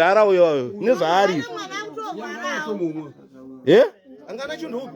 mudhara uyo nezvaari eh? angana chinhu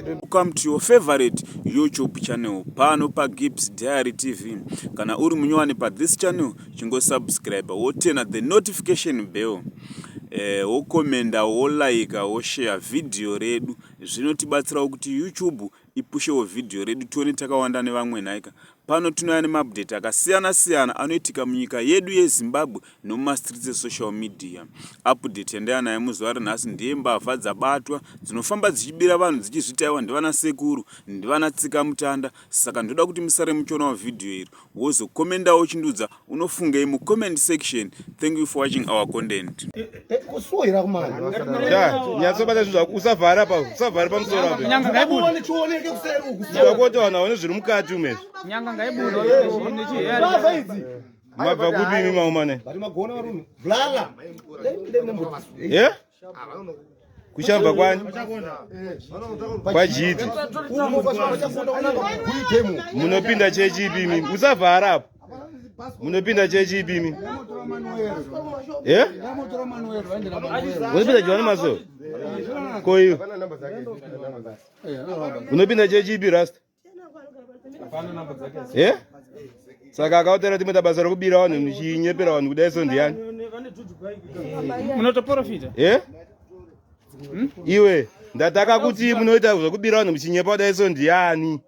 Welcome to your favorite YouTube channel pano pa Gibbs Diary TV. Kana uri munyowani pa this channel, chingo subscribe wotena the notification bell. Eh, wokomenda, wolaika, woshare video redu. Zvinotibatsirawo kuti YouTube ipushewo vhidhiyo redu tione takawanda nevamwe nhaika. Pano tinouya nemaupdate akasiyana siyana anoitika munyika yedu yeZimbabwe nemumastreets esocial media. Update yandaya nayo muzuva renhasi ndiye mbavha dzabatwa dzinofamba dzichibira vanhu dzichizvitaiwa ndivana sekuru ndivana tsikamutanda saka ndoda kuti musare muchionawo vhidhiyo iri wozokomendawo uchindiudza unofungei mucomment section thank you for watching our content kusuhira kumanyasobata zvinhu zvako usavhara pa usavhara pamusoro apoakuti vanhu vaone zviri mukati umezvo mabva kupi imi maumane kuchabva kwani kwajiti munopinda chechi ipimi usavhara apo munopinda chechi ipimi unopinda johani maso koiwe unopinda chechi ipi rasta eh saka akaotera timwe tabasa rekubira vanhu muchinyepera vanhu kudai so ndiyani unotoprofita eh hmm? iwe ndataka kuti munoita zvekubira vanhu muchinyepa kudai so ndiyani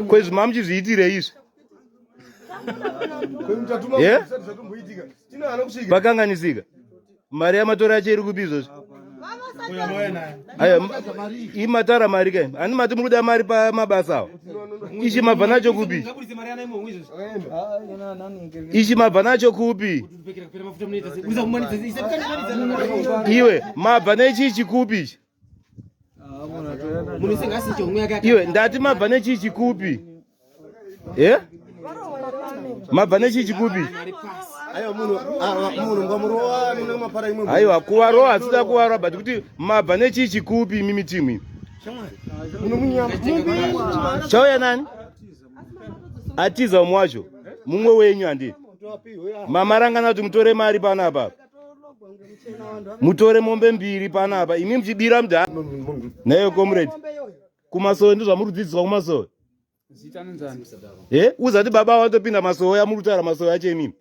kwezvi mamuchizviitire izvi eh? pakanganisika mari yamatora yacho iri kupi izvozvi imatara mari kai ani mati muri kuda mari pamabasa awo ichi mabva nacho kupi ichi mabva nacho kupi iwe mabva nechichi kupi ichi iwe ndati mabva nechii chikupi e eh? mabva nechii chikupi aiwa kuvarowa asida kuvarowa but kuti mabva nechii chikupi imi mitimu imi chauya nani atiza umwe wacho mumwe wenyu handii mamarangana kuti mutore mari pano apapa mutore mombe mbiri panapa imi muchibira mda nayo comrade kumasowe ndozvamuri kudzidziswa kumasowe uzati baba watopinda masowe amuri kutaura masowe acho imimi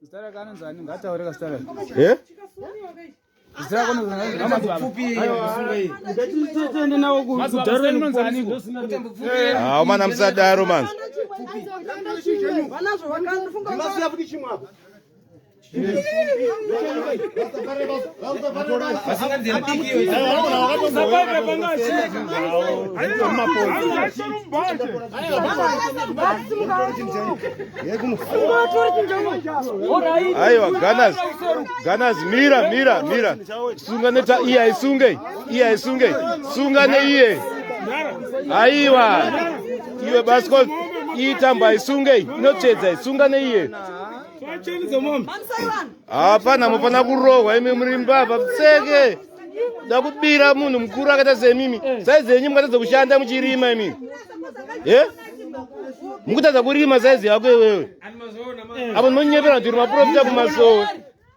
haumana musadaro manzi aiwa ganas ganas mira mira mira sunga neta iye aisunge iye aisunge sunga neiye aiwa iwe baskol iitamba aisunge inotsvedza isunga neiye hapana mufana kurohwa imi muri mbavha pfeke da kubira munhu mukuru akaita semimi saizi yenyu mukatadza kushanda muchirima imi e mukutadza kurima saizi yako iwewe apo ndinonyepera kuti uri maprofita kumasowe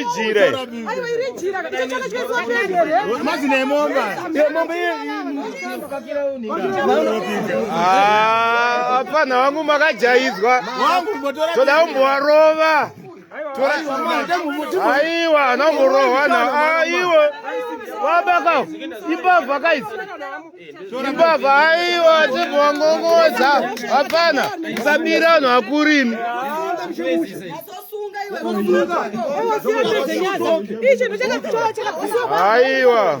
ijire mazi nemomba yemomba hapana wangu makajaidzwa toda kumbovarova aiwa anangorohwana aiwa wabaka imbavha kaizi imbavha aiwa tibongongodza hapana usabira anhu akurimi aiwa